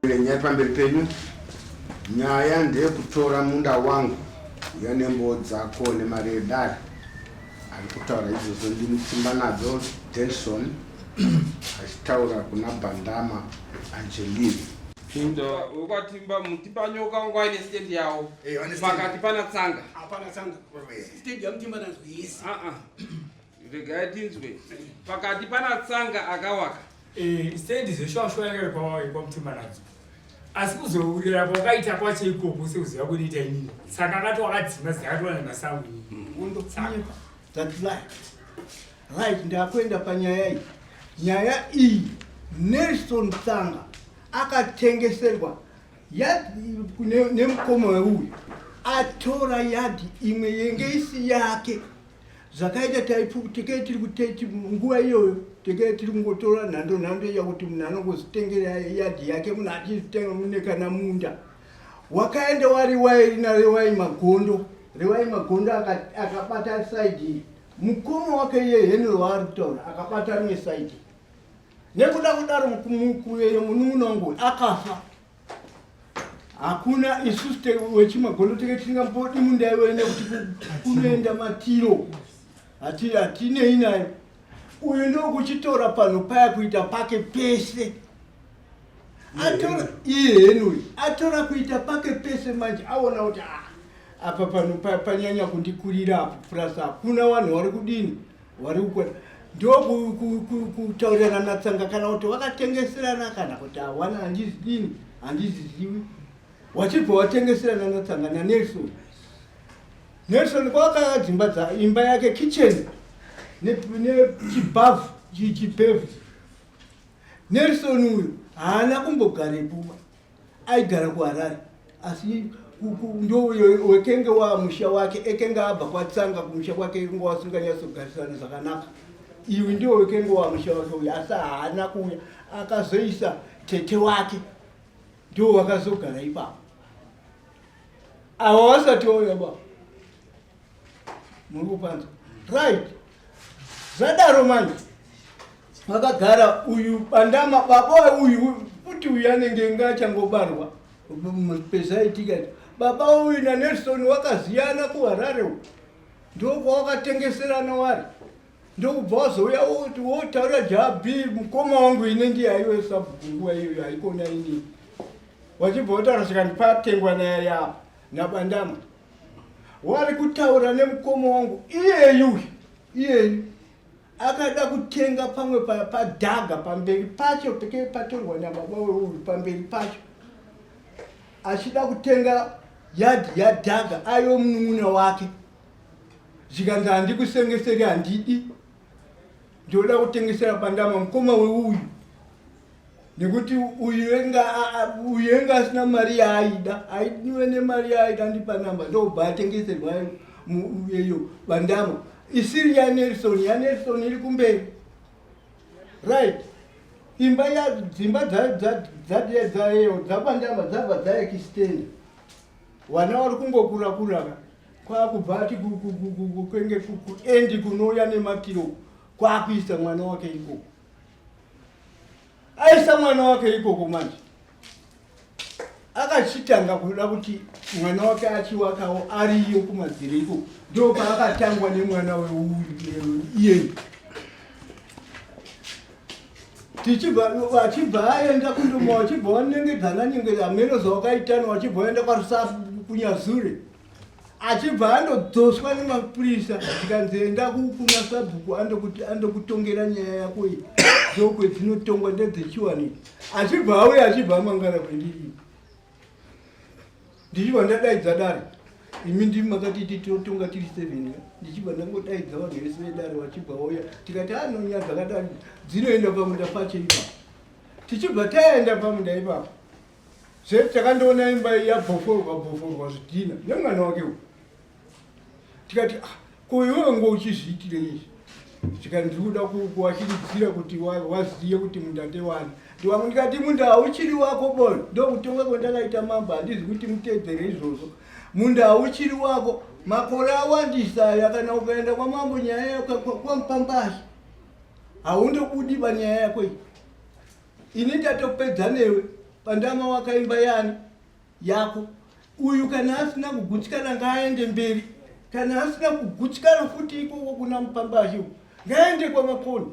Nyaya pamberi penyu, nyaya ndeyekutora munda wangu uya nembowo dzako nemari yedare. Ari kutaura izvozvo ndimutimba nadzo Denson achitaura kuna Bandama Angeline. Kuda wekwatimba mutimba nyoka wangu aine stand yawo pakati pana tsanga. Hapana tsanga. Stand yamutimba nadzo yes. Ah ah. regai tinzwe pakati pana tsanga akawaka eh, sendi zveshwashwa yanga kwamutima nadzo asi kuzourira kwakaita kwacho ikoko seuziva kuniita inini saka akati wakadzima zikatoa nemasango right ndakuenda panyaya iyi nyaya iyi nelson tsanga akatengeserwa nemukoma weuyu atora yadhi imwe yenge isi yake zvakaita taipukutekei tiri kuteti nguva iyoyo tekei tiri kungotora nhando nhando iya kuti munhu anongozitengera yadhi yake munhu achizitenga mune kana munda wakaenda wariwai rina rewai magondo rewai magondo akabata saidi mukoma wake iye henry waari kutaura akabata rimwe saidi nekuda kudaro mukuveyo munun'una wangu akafa hakuna isu wechimagondo tenge tisingambodi munda iwe nekuti kunoenda matiro hatinei nayo uyu ndokuchitora panhu paya kuita pake pese atora iye henuyi atora kuita pake pese manje aona kuti ah, apa panhu panyanya kundikurira apo plus hakuna vanhu vari kudini wari kukona ndokutaurirana natsanga kana kuti wakatengeserana kana kuti hawana handizidini handizizivi wachibva watengeserana natsanga nanelson nelson kwawakaka dzimba dza imba yake kitchen nechibavu chichipevu nelson uyu haana kumbogarepuwa aigara kuharare asi ndowekenge wa musha wake ekenge abva kwatsanga kumusha kwake inga wasinganyatsogarisana zvakanaka iwi ndiwo wekenge wa musha wake uya asi haana kuuya akazoisa tete wake ndiwo wakazogara ipapo awa wasati wauya baba muri kupanza right zvadaro manje makagara uyu bandama baba uyu futi uyu anenge inga achangobarwa pezaitika baba uyu nanelson wakaziyana kuharare u ndokwawakatengeserana wari ndokubva wazouya woti wotaura jab mukoma wangu ine ndiye aiwe sabhuku nguva iyoyo haikona inini wachibva wotaura zvikanipatengwa naye yapa nabandama wari kutaura nemukoma wangu iyeyu uyu iyeyu akada kutenga pamwe pa- padhaga pamberi pacho pekee patorwa nababa weuyu pamberi pacho achida kutenga yadhi yadhaga aiwo munun'una wake zvikanzi handikusengeseri handidi ndinoda kutengesera pandama mukoma weuyu nekuti uyenga uyenga asina mari yaaida aidiwe nemari yaaida ndipa namba ndobva atengeserwa muyeyo bandama isiri yanelson yanelson iri kumberi right imba ya dzimba dzadie dzaeyo dzabandama dzabva dzaekistenda vana vari kungokurakuraga kwakubva ati kwenge kuendi kunouya nemakiro kwakuisa mwana wake ikoko aisa mwana wake ikoko manje akachitanga kuda kuti mwana wake achiwakawo ariyo kumadziro ikoko ndo paakatangwa nemwana weuyiyeni tichibva vachibva aenda kundoma wachibva wanengedzana nyengedza ameno zvawakaitana wachibva waenda kwarusafu kunyazure achibva andodzoswa nemapurisa ndikanzi enda kukuna sabhuku andokutongera nyaya yako iyi dzokwe dzinotongwa ndedzechiwani achibva auya achibva amangara kwendiri ndichibva ndadaidza dare imi ndimi makatiti tinotonga tiri seven ndichibva ndangodaidza vanhu vese vedare vachibva vauya tikati anonya ah, dzakadai dzinoenda pamunda pacho ipapo tichibva taenda pamunda ipapo Zve takandoona imba yabhoforwa bhoforwa zvidhina nemwana wake uyu. Tikati ah, ko iwewe ngo uchizviitire izvi? Tika ndiri kuda kuwachiridzira kuti waziye wa kuti munda ndewani. Ndiwangu ndikati munda hauchiri wako boy, ndokutonga kwandakaita mambo handizi kuti mutedzere izvozvo. Munda hauchiri wako, makore awandisa aya kana ukaenda kwamambo nyaya yako kwamupambasi. Haundobudi panyaya yako iyi. Ini ndatopedza newe pandama wakaimba yani yako uyu kana asina kugutsikana ngaaende mberi kana asina kugutsikana futi ikoko kuna mupambashi uku ngaende kwamakoni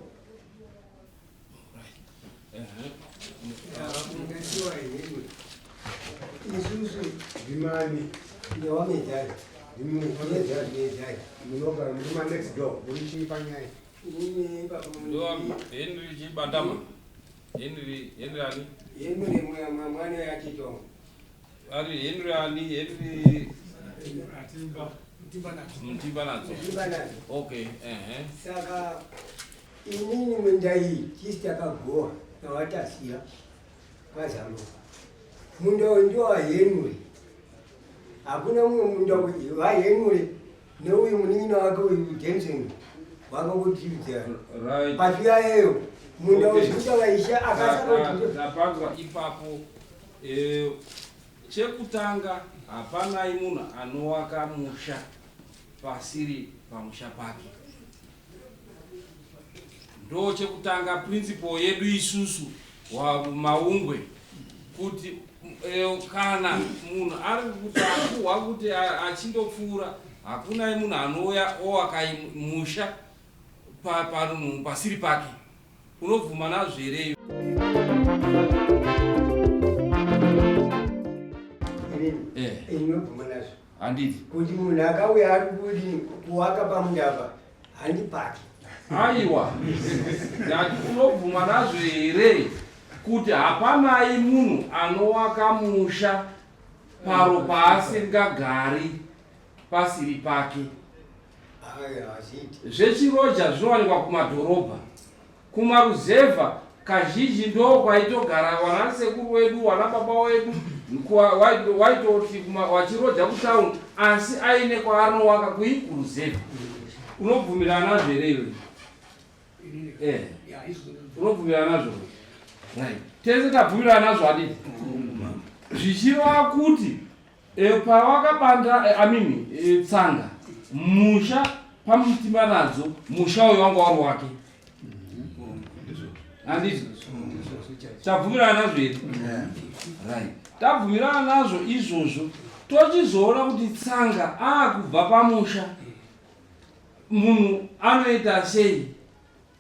isusu ndimani ndewamedhai ndimwamedhai munogara muri manext door muri chii panyaya Henry Chibandama. Henry, Henry ani? Henry mwana ya Chitonga. Ari Henry ani? Henry Atimba. Mtimba nadzo. Mtimba nadzo. Okay, ehe. Saka inini munda iyi chisi yakagowa nawatasiya kwaZamuka. Munda uyu ndiwa Henry. Hakuna mumwe munda uyu wa Henry. neuyu munin'ina wake uyu denson wanga kutiudza pazviyayeyo munda wezvikuta vaisha akasapanzwa ipapo eh, chekutanga hapanai munhu anowaka musha pasiri pamusha pake Ndochekutanga principle yedu isusu maungwe kuti eh, kana munhu ari kuti akuhwa kuti achindopfuura hakuna munhu anouya owakaimusha pasiri pake unobvuma nazvo here inobvuma nazvo handiti kuti munhu akauya ari kudi kuwaka pamundava handipaki aiwa ndati unobvuma nazvo here kuti hapanai munhu anowaka musha paro paasingagari pasiri pake zvechiroja zvinowanikwa kumadhorobha Kumaruzevha kazhinji ndoo kwaitogara wana sekuru wedu wana baba wedu waitoti wachiroja kutown asi aine kwaanowaka kui kuruzevha unobvumirana zvere iwe eh. unobvumirana nazvo tese tabvumirana nazvo adii zvichireva kuti E, pawakabanda e, I mean e, tsanga musha pamutima nadzo musha uyo wanga wari wake handiti tabvumirana nazvo here right tabvumirana nazvo izvozvo tochizoona kuti tsanga akubva pamusha munhu anoita sei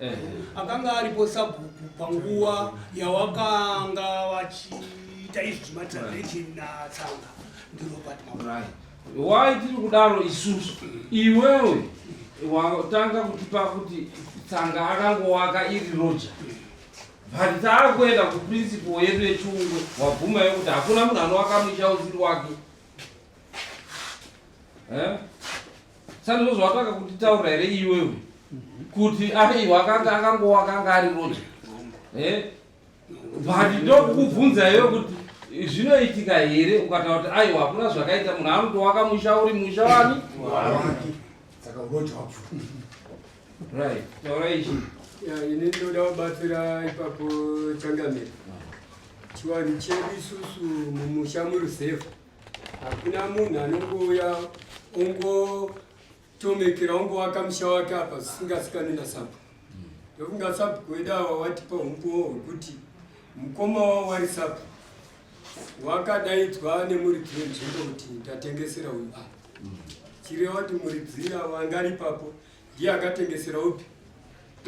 Eh. akanga aripo sabhuku panguva yawakanga vachiita izvi zvematransaction natsanga ndirobert maurayi why tiri kudaro isusu iwewe watanga kutipa kuti tsanga akangowaka iri roja but taakuenda kuprinciple yedu yechiungo wabvuma yekuti hakuna munhu anowaka musha usiri wake eh? Sandro zvawataka kutitaura here iwewe kuti aiwa akanga akangowa akanga ari roja eh? but ndokukubvunza iwe kuti zvinoitika here ukataura kuti aiwa hakuna zvakaita munhu anotowaka musha uri musha wani saka uroja wacho right taura ichi ini ndoda kubatsira ipapo changamira chivanhu chedu isusu mumusha murusefu Hakuna munhu anongouya ungotomekera ungovaka musha wake apa zvisingasikani nasabhuku ndokunga sabhuku wedu awa watipa umbowo hwekuti mukoma wavo wari sabhuku wakadaidzwa nemuridzi wenzvimbo kuti ndatengesera uyu apa chireva kuti muridzi ava angaripapo Ndiye akatengesera upi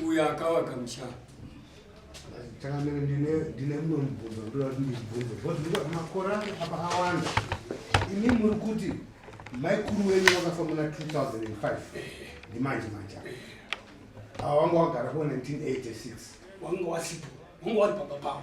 uyo akavaka musha. Changamire ndine ndine mumwe mubvunzo ndoda kuti ndibvunze because ndikuti makore ake apa awanda. Imi muri kuti maikuru wenyu vakafa muna 2005 ndimanje manje awa wanga wagara ko 1986 wanga wasipo wanga wari pamba pavo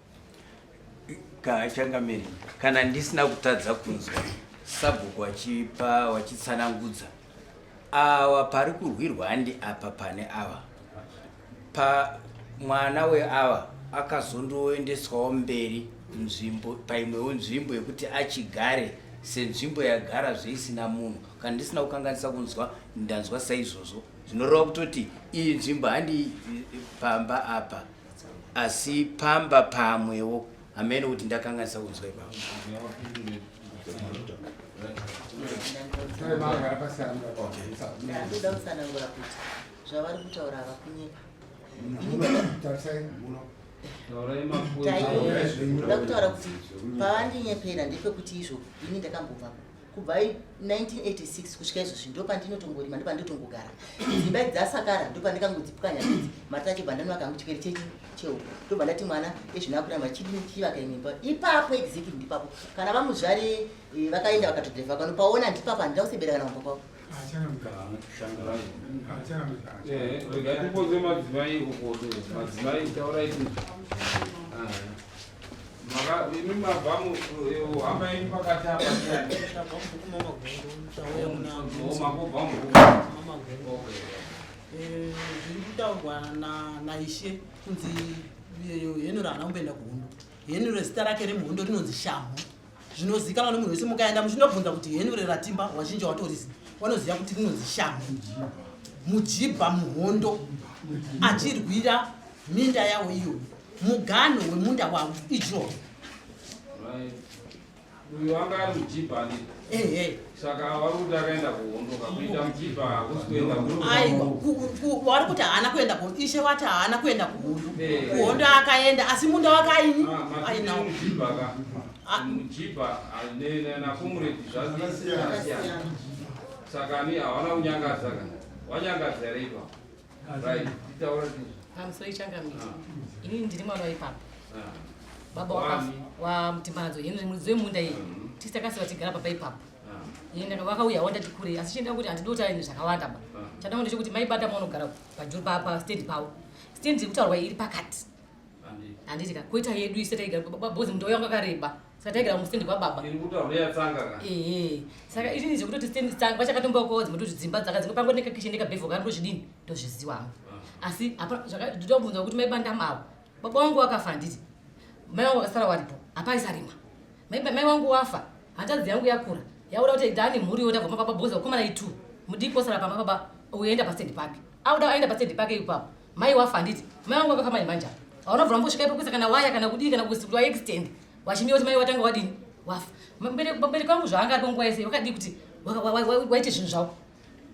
changamire kana ndisina kutadza kunzwa sabhuku wachipa wachitsanangudza awa pari kurwirwa handi apa pane ava pa mwana weava akazondoendeswawo mberi nzvimbo paimwewo nzvimbo yekuti achigare senzvimbo yagara zveisina munhu kana ndisina kukanganisa kunzwa ndanzwa saizvozvo zvinoreva kutoti iyi nzvimbo handi pamba apa asi pamba pamwewo hameno kuti ndakanganisa kunzwa ipapo zvavari kutaura havakunyepa ndaida kutaura kuti pavandinyepera ndepekuti izvo ini ndakambobvapo kubva 1986 kusvika izvozvi ndopandinotongorima ndopandotongogara dzimba idzi dzasakara ndopandikangodzipukanya idzi mati achibva ndanova kangu chipere chechi cheuku ndobva ndati mwana ezvinakura machidini chivaka imwe imba ipapo exactly ndipapo kana vamuzvari eh, vakaenda vakatodheva pano paona ndipapo handina kusebera kana kumba kwavo Eh, zviri kutaurwa naishe kunzi henuro haana kumboenda kuhondo henuro zita rake remuhondo rinonzi shamhu zvinozikanwa nemunhu wese mukaenda muchinobvunza kuti henu reratimba wazhinji watorisi wanoziva kuti rinonzi shamhu mujibha muhondo achirwira minda yawo iyo mugano wemunda wavo ijoho uyu anga ari mujibha ehe saka vari kuti akaenda kuhondo kakuita muchipa hakusi kuenda kuaiwavari kuti haana kuenda kuhondo ishe wati haana kuenda kuhondo eh. kuhondo akaenda asi munda wake aini ah, ainawo muchipa nakomuredi zvazvakasiyana saka ni hawana kunyangadza kana wanyangadza here ipapo Pamsoro ah. ichangamire. Ah. Ini ndiri mwana waipapo. Ah. Baba wakafa waMtimbadzo. Ini muridzi wemunda iyi. Mm-hmm. Tisi takasiwa tigara papa ipapo. Ini vakauya wandati kure asi chenda kuti handidi kutaura zvakawanda ba. Chanda kuti mai bata munogara pajuru papa stand pawo. Stand iri kutaurwa iri pakati. handiti ka kuita yedu ise taigara kwababa bhozi muto yangu akareba saka taigara mustendi kwababa ee saka izvi ndizvo kutoti stendi tsanga vachakatombawo kwawo dzimwe toti dzimba dzaka dzimwe pango nekakishe nekabhevho kari ndozvidini ndozviziwa hangu ah. asi ndotobvunza kuti maibanda mavo baba wangu wakafa handiti mai wangu wakasara waripo hapaisarimwa mai wangu wafa hanzvadzi yangu yakura yakuda kuti dani mhuri yoda vamababa bhozi vakomana itu mudiki osara pamababa uenda pastendi pake auda aenda pastendi pake ipapo Mai wafa handiti? Mai wangu wakafa manje manje apa. Hauna bvura mbosvika ipo kuisa kana waya kana kudii kana kuisa kuti waextend. Wachimira kuti mai watanga wadini? Wafa. Pambereki wangu zvaanga aripo nguva yese wakadii kuti waite zvinhu zvavo.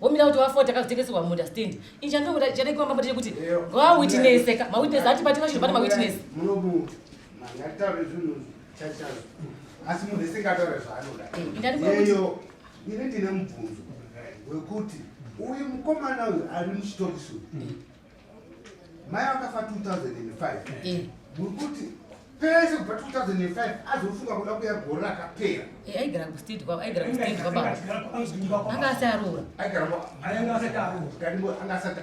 Womira kuti wafa takazotengeserwa munda stand. Ini chandinoda chadai kuamba mbotete kuti ngowa witness ka. Ma witness ati pati vachiri pati ma witness. Munobu. Mangataure zvinhu chachazo. Asi munhu esingataure zvaanoda. Ndari kuyo ini ndine mubvunzo wekuti uyu mukomana uyu ari muchitokisi uyu mm. mai vakafa 2005 mm. wekuti pese kubva 2005 azofunga kuda kuya gore rakapera eh, aigara kustd kwavo aigara kustd kwavo anga asi aroora anga asati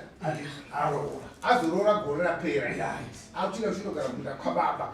aroora azoroora gore rapera akuchinga kuchinogara munda kwababa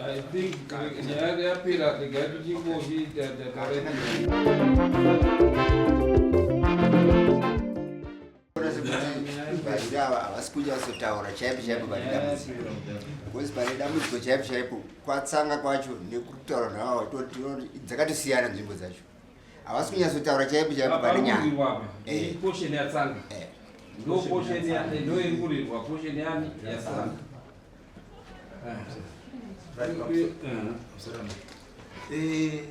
I think nyaya yapera regai tichingozviita takareda vazhinji ava havasi kunyatsotaura chaipo chaipo pane dambudziko bcause pane dambudziko chaipo chaipo kwatsanga kwacho nekutaura navo dzakatosiyana nzvimbo dzacho havasi kunyatsotaura chaipo chaipo pane nyaya eh. posheni yatsanga eh. ndo posheni ndoiri kurirwa posheni yani yatsanga eh.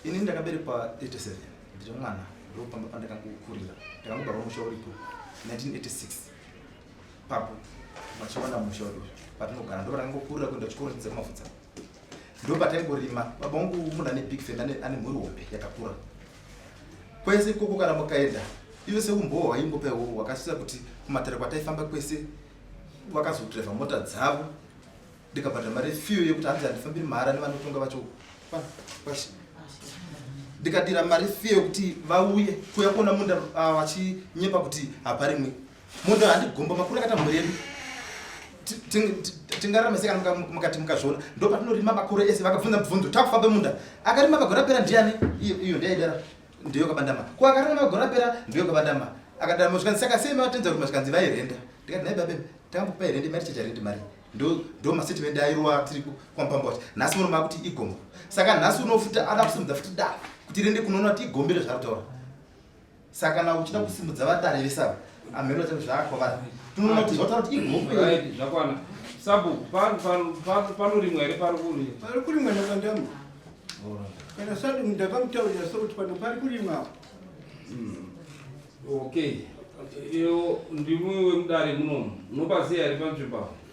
ini ndakaberekwa 87 ndiri mwana ndopamba pandakangokurira ndakangobarwa musha uripo 1986 papo vachiwana musha uri patinogara ndopatakangokurira kuenda chikoro chidze kumafudza ndopataingorima baba vangu munhu ane big fam ane mhuri hombe yakakura kwese ikoko kana mukaenda ive seumbowo hwaingopaiwo hwakasisa kuti kumatare kwataifamba kwese vakazodriva mota dzavo ndikabhadhara mari yefiyo yekuti hanzi handifambiri mahara nevanotonga vacho kwashe ndikadira mari fiyo yekuti vauye kuya kuona munda ah, vachinyepa kuti haparimwe Munhu handigomba makuru akata mhuri yedu. Tingarame seka mukati mukazviona. Ndo patinorima makuru ese vakabvunza mubvunzo takufa pemunda. Akarima magora pera ndiani? Iyo iyo ndiyaidara. Ndiyo kabandama. Ko akarima magora pera ndiyo kabandama. Akadara muzvikanzi saka sei matenza kuti muzvikanzi vairenda. Ndikati naye babe takambokupa irenda mari chacha rendi mari ndo mastatement airova tiri kwamupamba kuti nhasi muno makuti igombo saka nhasi unofuta ada kusimudza futi da kuti rende kunoona kuti igombere zvarutaura saka kana uchida kusimudza vatare vesaba amhero chavo zvaakwavara tinoona kuti zvataura kuti igope zvakwana sabu panorimwa here pari kuri pari kurimwa nakandamu kana sadu ndakamutaurira so kuti pano pari kurimwa hmm. okay iyo ndimwiwe mudare munomu unopaziya here panzvimbo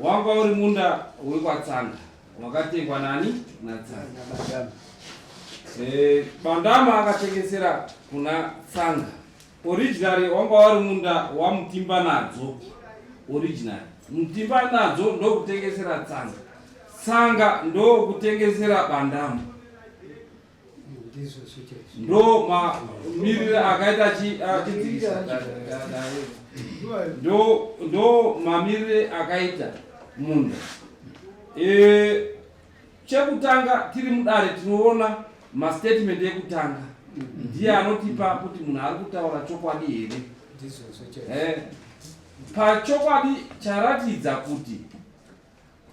Wanga uri munda wekwatsanga wakatengwa nani natsanga bandama. E, bandama akatengesera kuna tsanga originary wanga wari munda wamutimba nadzo originary mutimba nadzo ndokutengesera tsanga tsanga ndokutengesera bandama ndo mamirire akaita achidzivisa ndo mamirire akaita munda e, chekutanga tiri mudare tinoona mastatement ekutanga ndiye anotipa kuti munhu ari kutaura chokwadi here e, pachokwadi charatidza kuti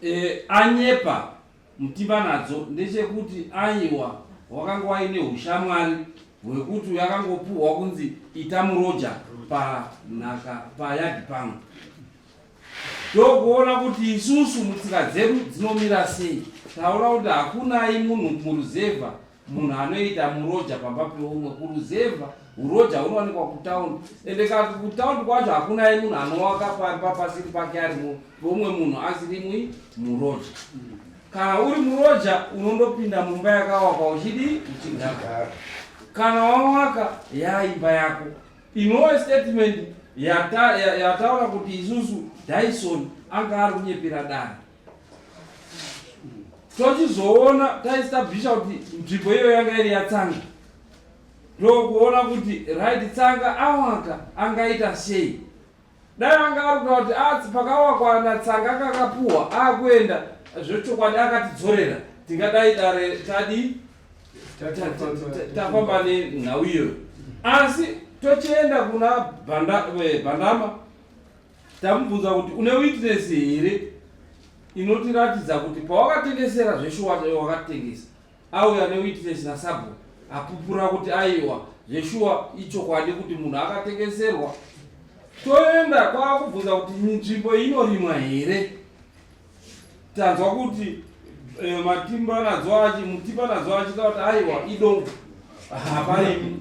e, anyepa Mutimba nadzo ndechekuti aiwa wakanga waine ushamwari hwekuti yakangopuhwa kunzi ita muroja panhaka payadi pangu ndokuona kuti isusu mutsika dzedu dzinomira sei taona kuti hakunai munhu muruzevha munhu anoita muroja pamba peumwe kuruzevha uroja hunowanikwa kutaundi ende ka kutaundi kwacho hakunaye munhu anowaka pamba pasiri pake ari peumwe munhu asirimwi muroja kana uri muroja unondopinda mumba yakawakwa uchidii uchigagara kana wawaka yaimba yako inowe statement yataura yata, yata kuti isusu dyson anga ari kunyepera dani tochizoona taestablisha kuti nzvimbo iyo yanga iri yatsanga ndokuona kuti right tsanga awaka angaita sei dai anga ari kuta kuti atsi ah, pakawakwa natsanga akakapuwa akuenda zvechokwadi akatidzorera tingadai dare tadi tafamba nenhau iyoyo asi tochienda kuna eh, bhandama Tamubvunza kuti une witness here inotiratidza kuti pawakatengesera zveshuwa chaiwo wakatengesa auya newitness nasabhuku apupura kuti aiwa zveshuwa ichokwadi kuti munhu akatengeserwa toenda kwaakubvunza kuti nzvimbo inorimwa here tanzwa kuti eh, matimba nadzo achi mutipa nadzo achita kuti aiwa idongo hapaimi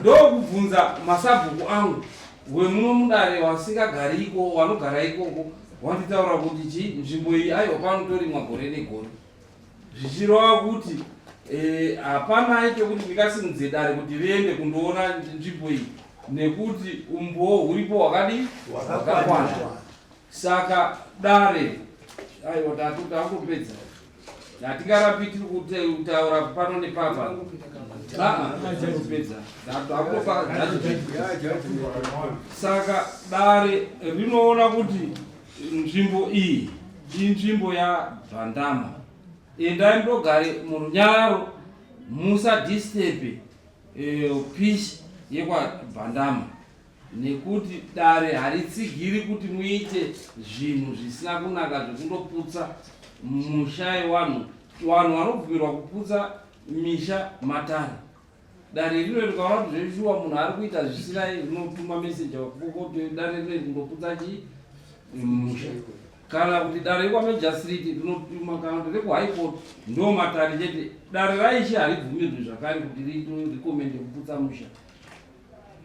ndokubvunza masabhuku angu wemuno mudare wasingagari ikoko wanogara ikoko wanditaura kuti chi nzvimbo iyi aiwa panotorimwa gore negore zvichirova kuti eh, hapana e, chekuti ndikasimudze dare kuti riende kundoona nzvimbo iyi nekuti umbowo huripo hwakadi hwakakwana Saka dare aiwa tatu takupedza hatingarapi tiri kutaura pano nepapa aapedza saka dare rinoona kuti nzvimbo iyi inzvimbo yabvandama endai ndogare murunyararo musa disturbe eh, peace yekwabhandama nekuti dare haritsigiri kuti muite zvinhu zvisina kunaka zvekundoputsa musha yewanhu vanhu vanobvumirwa kuputsa misha matare dare rino rikaona kuti zveshuwa munhu ari kuita zvisina rinotuma meseja kuti dare rino rikundoputsa chi musha kana kuti dare rekwamejastrit rinotuma kana kuti rekuhighcourt ndo matare chete dare raishi haribvumirwi zvakare kuti rikomende kuputsa musha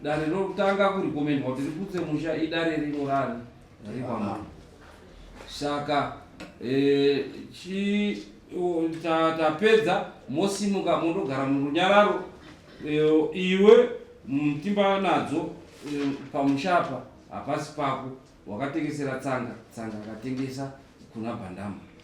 Dare rokutanga kurikomenwa kuti riputse musha idare rinorari rikwamana. Saka eh, chi tapedza mosimuka mondogara murunyararo eh, iwe mtimba nadzo eh, pamusha apa hapasi pako wakatengesera tsanga tsanga akatengesa kuna bhandama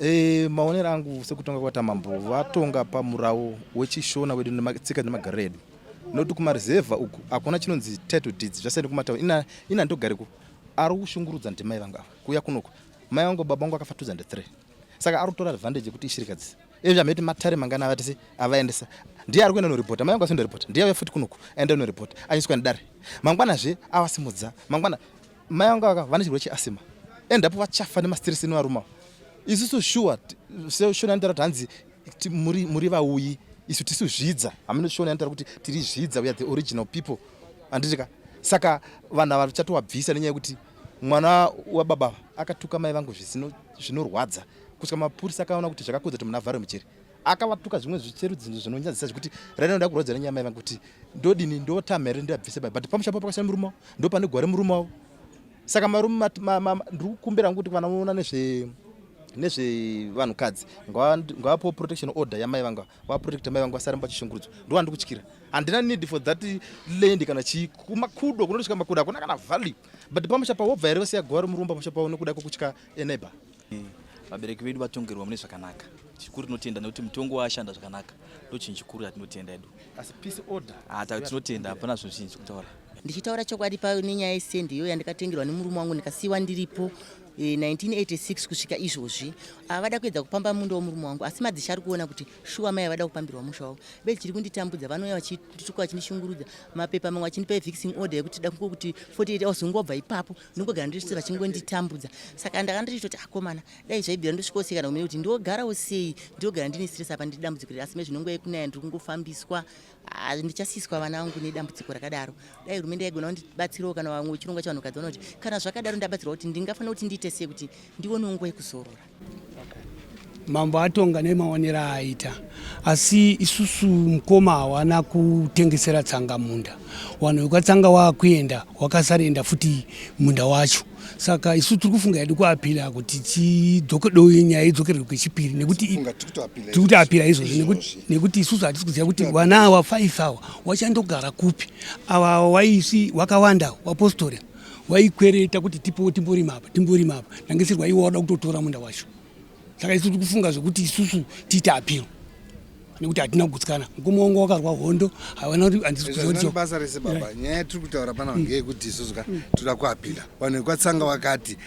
E, maonero angu sekutonga kwata mambo vatonga pamurawo wechishona wedu nematsika nemagariro edu nokuti kumaruzevha uku hakuna chinonzi title deeds zvasiyana kumatauni ina, ina ndogareko ari kushungurudza ndimai vangu ava kuya kunoko mai vangu baba vangu akafa 2003 saka ari kutora advantage yekuti ishirikadzi ezvi ameti matare mangani avatisi avaendesa ndiye ari kuenda noripota mai vangu asi ndoripota ndiye auya futi kunoku aenda noripota anyiswa nedare mangwanazve avasimudza mangwana Mai vangu aka vane chirwere cheasima and apo vachafa nemastress inovaruma isusu shuwa seshona anotaura kuti hanzi muri, muri vauyi isu tisu zvidza hameno shona anotaura kuti tiri zvidza we are the original people handitika saka vanhu ava vachatowabvisa nenyaya yekuti mwana wababa akatuka mai vangu zvinorwadza kusvika mapurisa akaona kuti zvakakudza kuti munhu avhare muchiri akavatuka zvimwe zvicherudzi zvinonyadzisa zvekuti rainoda kurodzera nyama yava kuti ndodini ndotama here ndiyabvise bai but pamusha papo pakashaya murume wavo ndopane gware murume wavo saka marume ndiri kukumbira kuti vana voona nezve nezvevanhukadzi ngavapo protection order yamai vanga vaprotecta mai vanga vasaramba chishungurudzo ndo vandi kutyira handina need for that land kana chii kumakudo kunotosvika makudo hakuna kana value but pamusha pawobva here vasiya gore murumba pamusha pavo nekuda kwekutya eneba vabereki vedu vatongerwa mune zvakanaka chikuru tinotenda nekuti mutongo waashanda zvakanaka ndochinhu chikuru yatinotenda edu asi peace order hata ah, tinotenda hapana zvinhu zvinhu zvekutaura ndichitaura chokwadi paine nyaya yesendi iyo yandikatengerwa nemurume wangu ndikasiyiwa ndiripo 1986 eh, kusvika izvozvi avada ah, kuedza kupamba munda womurume wangu asi madzisha ari kuona kuti shuwa mai avada kupambirwa musha wavo be chiri kunditambudza vanouya vachituka vachinishungurudza mapepa mamwe achindipa evixing order yekuti da kuti 48 hours ungobva ipapo ndongogara ndiri vachingonditambudza saka ndanga ndichitoti akomana dai zvaibvira ndosvikoseka ndakumene kuti ndogarawo sei ndogara ndine stress apa ndiri dambudziko riri asi mezvinongo yekunaya ndiri kungofambiswa ah, ndichasiyiswa vana vangu nedambudziko rakadaro dai hurumende yaigona kundibatsirawo kana vamwe chirongwa chavanhukadzi vanoti kana zvakadaro ndabatsirwa kuti ndingafanira kuti ndiite sei kuti ndionewo nguva yekuzorora mambo atonga nemaonero aaita asi isusu mukoma hawana kutengesera tsanga munda wanhu wekatsanga waakuenda wakasaroenda futi munda wacho saka isu tiri kufunga yedu kuapila kuti tidzokedo nyaya idzokerwe kwechipiri nekuti tiri kuti apila izvozvi nekuti isusu hatisi kuziva kuti vana awa five awa wachandogara kupi awa waisi wakawanda wapostori waikwereta kuti tipowo timborima apa timborima apa ndangisirwa iwe wada kutotora munda wacho saka isu tiri kufunga zvekuti isusu tiite apiro nekuti hatina kugutsikana mukoma wangu wakarwa hondo havana kuti handizibasa rese baba nyaya tiri kutaura pana vangeyekuti isusu ka toda kuapila vanhu vekwatsanga vakati